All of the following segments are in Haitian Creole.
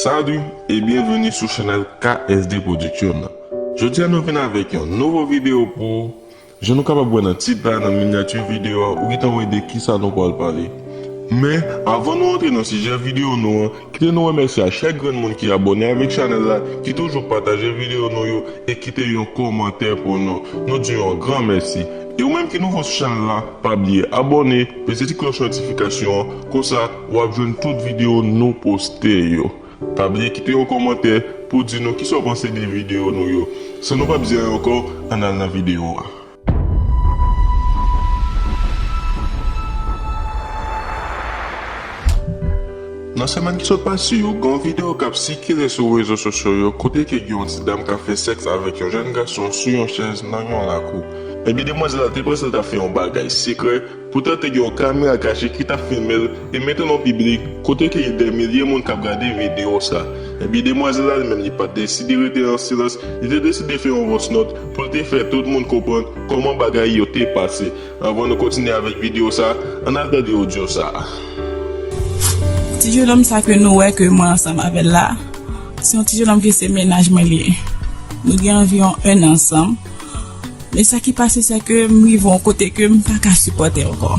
Salut et bienvenue sou chanel KSD production Jodi a nou vin avek yon nouvo video pou ou Jan nou kapab wè nan tit la nan miniature video a ou gentan wè de kisa nou pwal pale Men avan nou antre nan sijè video nou an kite nou remèsye a chak grenn moun ki abòne avek chanel la ki toujou pataje video nou yo e kite yon komantè pou nou nou diw yon gran mèsi e ou menm ki nouvo sou chanel la pa bliye abòne peze ti klòch notifikasyon an konsa Wap jwenn tout video nou poste yo. Pa bliye kite yon komantè pou di nou kisa w panse de video nou yo. San nou pap di anyen ankò, ann al nan video a. Nan semèn ki sot pase yo, gen yon video kap sikile sou rezo sosyo yo kote ke gen yon ti dam kap fè sèks avèk yon jèn gason sou yon chèz nan yon lakou. Ebyen demwazèl la te panse l tap fè yon bagay sekrè, Poutan te gen yon kamera kache ki tap filme l e mete l an piblik kote ke gen dè milye moun kap gade video sa. Ebyen demwazèl la li menm li pat deside rete an silans, li te deside fè yon voice note pou l te fè tout moun konprann kòman bagay yo te pase. Anvan nou kontinye avèk video sa, an al gade audio sa. Ti jenòm sa ke nou wè ke mwen ansanm avè l la, se yon ti jenòm ke se mennaj mwen li ye. Nou gen anviwon 1 an ansanm. Men sa ki pase se ke m rive yon kote ke m pa ka sipòte ankò.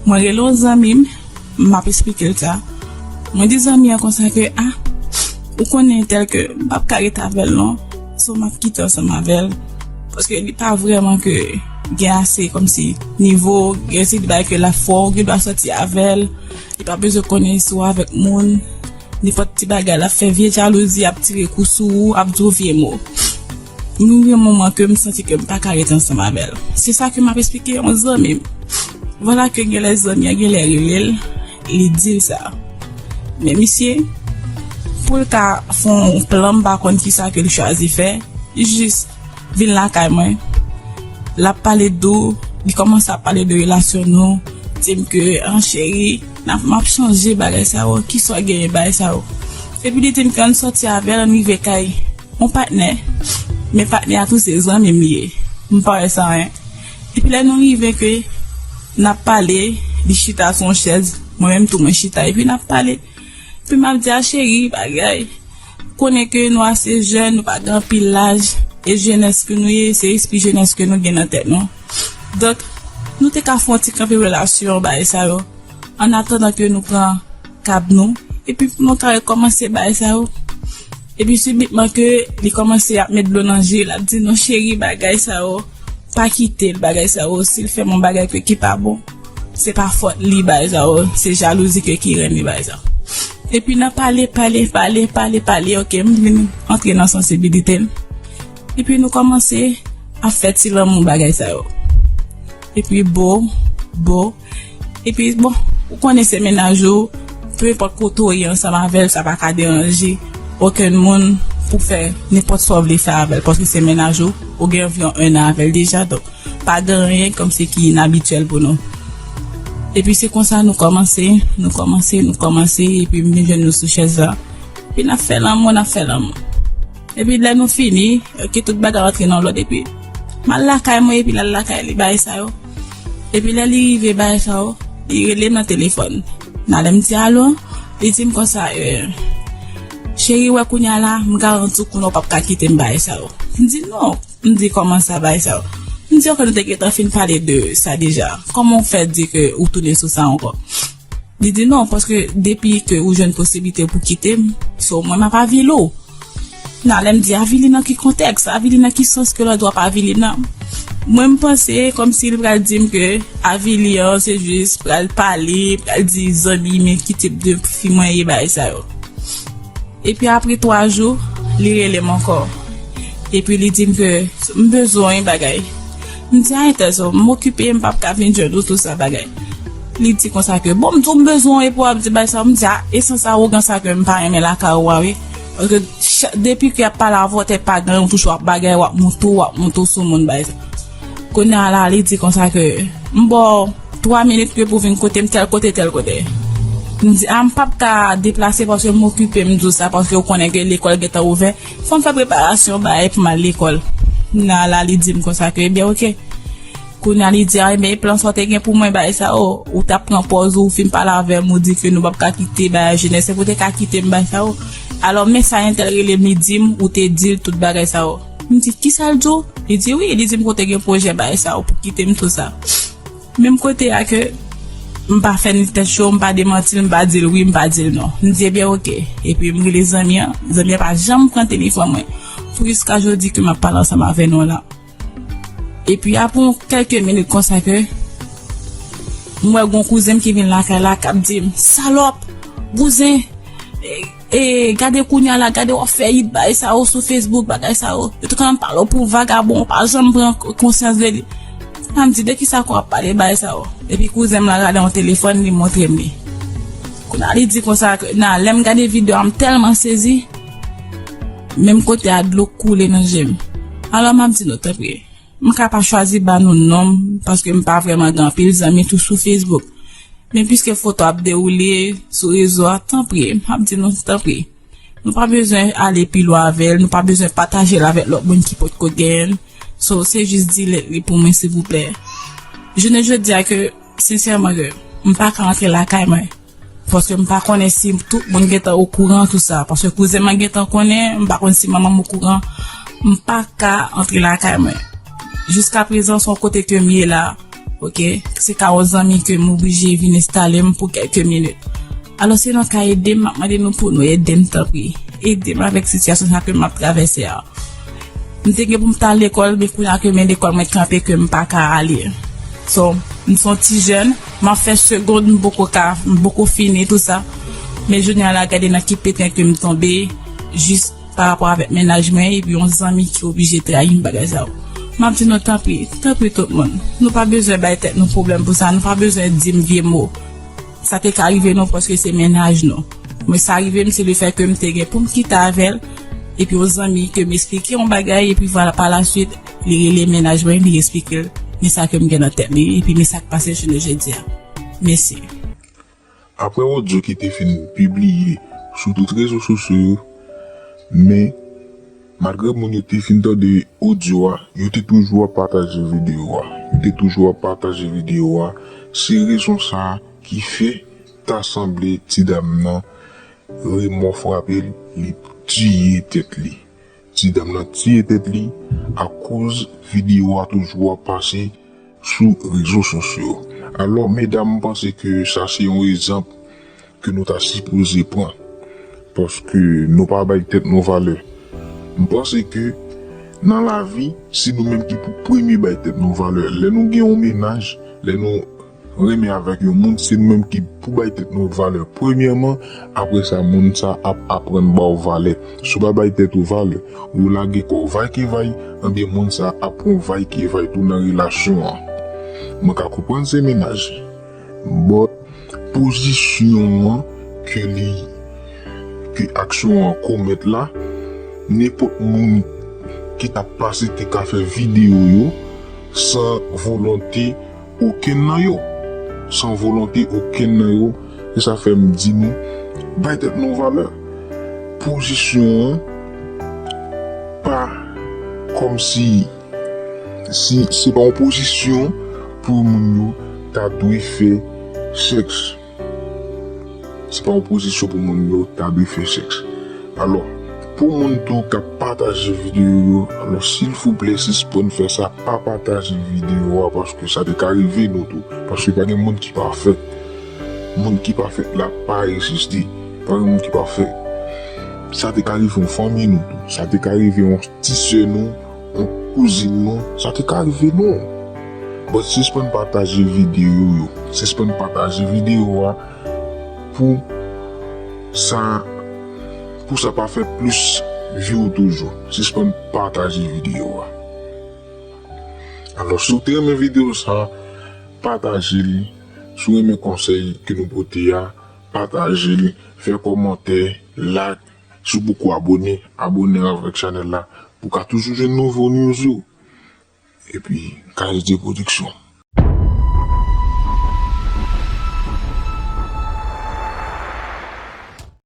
Mwen rele yon zanmi m, m ap esplike l sa. Mwen di zanmi an konsa ke, a, ou konnen entèl ke m pa p ka rete avè l non, so m ap kite ansanm avè l, paske li pa vrèman ke gen ase kòmsi nivo, gen yon seri de bagay ke l ap fè w, ou gen dwa sòti avè l, li pa bezwen konnen si w avèk moun, nenpòt ti bagay l ap fè vye jalouzi, ap tire kou sou ou, ap di w vye mo. Mwen gen moman ke m santi ke m pa ka ret ansanm avè l. Se sa ke m ap esplike yon zanmi m. Vwala ke gen lè zanmi an gen lè rele l, li di l sa. Men misye, pou l ka fè yon plan m pa konn kisa ke l chwazi fè, li jis vin lakay mwen, l ap pale dou, li kòmanse ap pale de relasyon nou, di m ke an cheri, n ap m ap chanje bagay sa yo, ki sò genyen bagay sa yo. Epi li di m ke an n sòti avè l, an n rive kay. On patnè, men patnè a tou se zanmi m ye, m pa wè sa anyen. Epi lè nou rive ke n ap pale, li chita sou yon chèz, mwen menm tou mwen chita epi n ap pale. Epi m ap di a cheri, bagay, ou konnen ke nou ase jèn, nou pa gen anpil laj, e jenès ke nou ye, se espri jenès ke nou gen nan tèt nou. Donk, nou te ka fè yon ti kanpe relasyon, bagay sa yo, annatandan ke nou pran tab nou epi pou nou ka rekòmanse bagay sa yo epi sibitman ke li kòmanse ap met dlo nan je lap di nou cheri bagay sa yo pa kitel bagay sa yo sil fèm yon bagay ke ki pa bon se pa fòt li bagay sa yo se jalouzi ke ki renmen bagay sa yo epi nan pale pale pale pale pale ok m vin antre nan sansibilite m epi nou kòmanse ap fè ti lanmou bagay sa yo epi bo bo. Epi bon, ou konnen se mennaj ou, peu enpòt kote ou ye ansanm avè l sa pa ka deranje okenn moun pou fè nenpòt sa w vle fè avè l paske se mennaj ou, ou gen anviwon 1 an avè l deja donk pa gen anyen kòmsi ki inabityèl pou nou. Epi se konsa nou kòmanse, nou kòmanse, nou kòmanse epi m vin jwenn nou sou chèz la epi n ap fè lanmou, n ap fè lanmou epi lè nou fini ok tout bagay rantre nan lòd epi m al lakay mwen epi l al lakay li bagay sa yo. Epi lè li rive bay sa w, li rele m nan telefòn. Nan lè m di alo, li di m konsa, Cheri, wè kounye a la, m garanti w konnen w pap ka kite m bay sa w. M di, Non. M di, Kòman sa bay sa w? M di, Ok, nou te gentan fin pale de sa deja. Kòman w fè di ke ou tounen sou sa ankò? Li di non paske depi ke ou jwenn posiblite pou kite m, so mwen m ap avili w. Nan lè m di avili nan ki kontèks, avili nan ki sans ke lòt w ap avili nan? Mwen m panse kòmsi li pral di m ke avili an se jis pral pale, pral di zanmi men ki tip de fi mwen ye bagay sa yo. Epi apre 3 jou li rele m ankò epi li di m ke m bezwen yon bagay. M di a entèz o, m okipe, m pap ka vin jwenn ou tout sa bagay. Li di konsa ke, bon m di w m bezwen w epi w ap di bagay sa, m di a e sans awogan sa ke m pa renmen lakay ou a wi. Paske chak, depi ke y ap pale avè w tèt pa genyen w toujou ap bagay, w ap moute w, w ap moute w sou moun bagay sa. Kounye a la li di konsa ke, m ba w 3 minit ke pou vin kote m tèl kote tèl kote. M di a m pap ka deplase paske m okipe, m di w sa paske ou konnen ke lekòl gentan ouvè. Fòm fè preparasyon bay pou mal lekòl. Nan la li dim konsa ke ebyen ok. Kounya li di a ebyen e plan sa w te gen pou mwen bagay sa o. Ou tap pran pòz ou, ou fin pale avè m ou di ke nou pap ka kite bagay jenès epi ou te ka kite m bagay sa o. Alò men sa entèl rele m li di m ou te di l tout bagay sa o. M di kisa l di w? Li di wi, li di m ke w te gen pwojè bagay sa o pou kite m tout sa. Menm kote a ke m pa fè ni tèt cho, m pa demanti l, m pa di l wi, m pa di l non. M di ebyen oke. Epi m rele zanmi an, zanmi an pa janm pran telefòn mwen pou jiska jodi ke m ap pale ansanm avè nou la. Epi apre yon kèlke minit konsa ke m wè gen yon kouzen m ki vin lakay la k ap di m, Salòp! Bouzen! E gade kounya la gade wap fè yit bagay sa yo sou Facebook bagay sa yo yo te konn ap pale w pou vagabon ou pa janm pran konsyans de li li pa m di de kisa ke wap pale bagay sa yo epi kouzen m la gade yon telefòn li montre m li kounya li di konsa ke na lè m gade video a m tèlman sezi menm kote a dlo koule nan je m alò map di nou tanpri. M ka pa chwazi ba nou non m paske m pa vrèman gen anpil zanmi tou sou Facebook. Men piske foto ap dewoule sou rezo a tanpri m ap di nou tanpri nou pa bezwen ale pi lwen avè l nou pa bezwen pataje l avèk lòt moun ki potko gen l so se jis delete li pou mwen silvouplè. Jounen jodi a ke sensèman ke m pa ka antre lakay mwen. Paske m pa konnen si tout moun gentan okouran tout sa paske kouzen mwen gentan konnen m pa konn si manman m okouran m pa ka antre lakay mwen jiska prezan son kote ke m ye la ok se ka yon zanmi ke m oblije vin enstale m pou kèlke minit alò si nou ka ede m map mande nou pou nou ede m tanpri ede m avèk sitiyasyon sa ke map travèse a m te gen pou m ta lekòl men kounya ke men lekòl mwen kanpe ke m pa ka ale so m son ti jèn. Map fè segond m poko ka m poko fini tout sa men jounen a la gade nan ki peten kem tonbe jis pa rapò avèk mennaj mwen epi yon zanmi ki oblije trayim bagay sa yo map di nou tanpri tanpri tout moun nou pa bezwen bay tèt nou pwoblèm pou sa nou pa bezwen dim vye mo sa te ka rive nou paske se mennaj nou mwen sa rivem se le fè kem te gen poum kite avèl epi yon zanmi kem esplike yon bagay epi vwala pa la swit. Li rele mennaj mwen li esplike l men sa ke m gen nan tèt li epi men sa k pase jounen jodi a. Mesi. Aprè odyo ki te fin pibliye sou tout rezo sosyo yo, men malgre moun yo te fin tande odyo a, yo te toujou ap pataje videyo a. Yo te toujou ap pataje videyo a, se rezon sa ki fè ta sanble ti dam nan remò frape l, li tiye tèt li. Ti dam nan tiye tèt li akoz video a toujou ap pase sou rezo sosyo. Alò medam m panse ke sa se yon ezanp ke nou ta sipoze pran. Paske nou pa bay tèt nou valè. M panse ke nan lavi se nou menm ki pou premye bay tèt nou valè. Lè nou gen yon menaj, lè nou. Renmen avèk yon moun se nou menm ki pou bay tèt nou valè premyèman, aprè sa moun sa ap aprann ba w valè. Si w pa bay tèt ou valè, ou lage kò w vaykevay, enben moun sa ap pran vaykevay tou nan relasyon an. Mwen ka konprann se mennaj, but pozisyon an ke li, ke aksyon an komèt la, nenpòt moun ki t ap pase te ka fè videyo yo san volonte. okenn nan yo, san volonte okenn nan yo, e sa fè m di nou, bay tèt nou valè. Pozisyon an pa kòm si, si se pa yon pozisyon pou moun yo ta dwe fè sèks. Se pa yon pozisyon pou moun yo ta dwe fè sèks. Alò, pou moun tou k ap pataje videyo yo, alò silvouplè sispann fè sa, pa pataje videyo a paske sa te ka rive nou tou. Paske pa gen moun ki pafè. Moun ki pa fèt la pa egziste. Pa gen moun ki pafè. Sa te ka rive yon fanmi nou tou. Sa te ka rive yon ti sè nou. Bon kouzin non sa te ka rive non. But sispann pataje video yo. Sispann pataje video a pou sa pou sa pa fè plis view toujou. Sispann pataje video a. Alò si w te renmen video sa pataje li. Si w renmen konsèy ke nou pote a pataje li. Fè kòmantè, like. Si w poko abone, abone avèk chanèl la pou w ka toujou jwenn nouvo news yo epi KSD production.